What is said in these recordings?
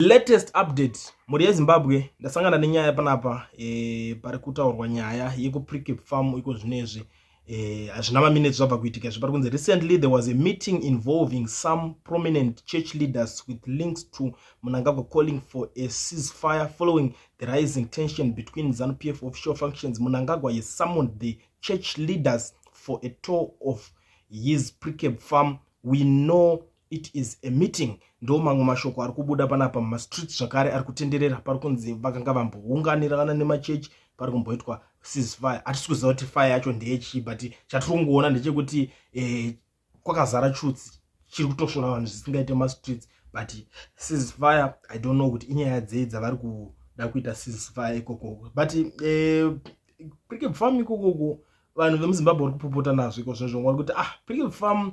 latest update mhuri yezimbabwe ndasangana nenyaya panapa e, pari kutaurwa nyaya yekupricap farm iko zvinezvi e, hazvina e, maminutes zvabva kuitika izvi pari kunzi recently there was a meeting involving some prominent church leaders with links to munangagwa calling for a ceasefire following the rising tension between zanu p f official functions munangagwa has summoned the church leaders for a tour of his pricap farm we know it is a meeting ndo mamwe mashoko ari kubuda panapa mumastreet zvakare ari kutenderera pari kunzi vakanga vambounganirana nemachechi pari kumboitwa ceasefire hatisi kuziva kuti fire yacho ndeyechii but chatiri kungoona ndechekuti eh, kwakazara chutsi chiri kutosvora vanhu zvisingaite mastreets but ceasefire i don't know kuti inyaya dzei dzavari kuda kuita ceasefire ikokoko but eh, prickip farm ikokoko vanhu vemuzimbabwe vari kupopota nazvo iko zvinozvongwa kuti ah prickip farm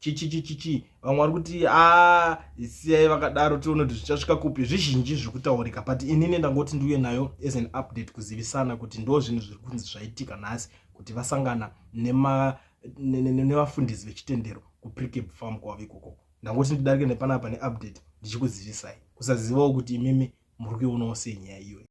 chichichichichi vamwe vari kuti a ah, siyai vakadaro tione kuti zvichasvika kupi zvizhinji zviri kutaurika but inini ndangoti ndiuye nayo as an update kuzivisana kuti ndo zvinhu zviri kunzi zvaitika nhasi kuti vasangana nevafundisi vechitendero kuprikeb farm kwavo ikoko ndangoti ndidarike nepanapa neupdate ndichikuzivisai kusazivawo kuti imimi muri kuionawo sei nyaya iyoyi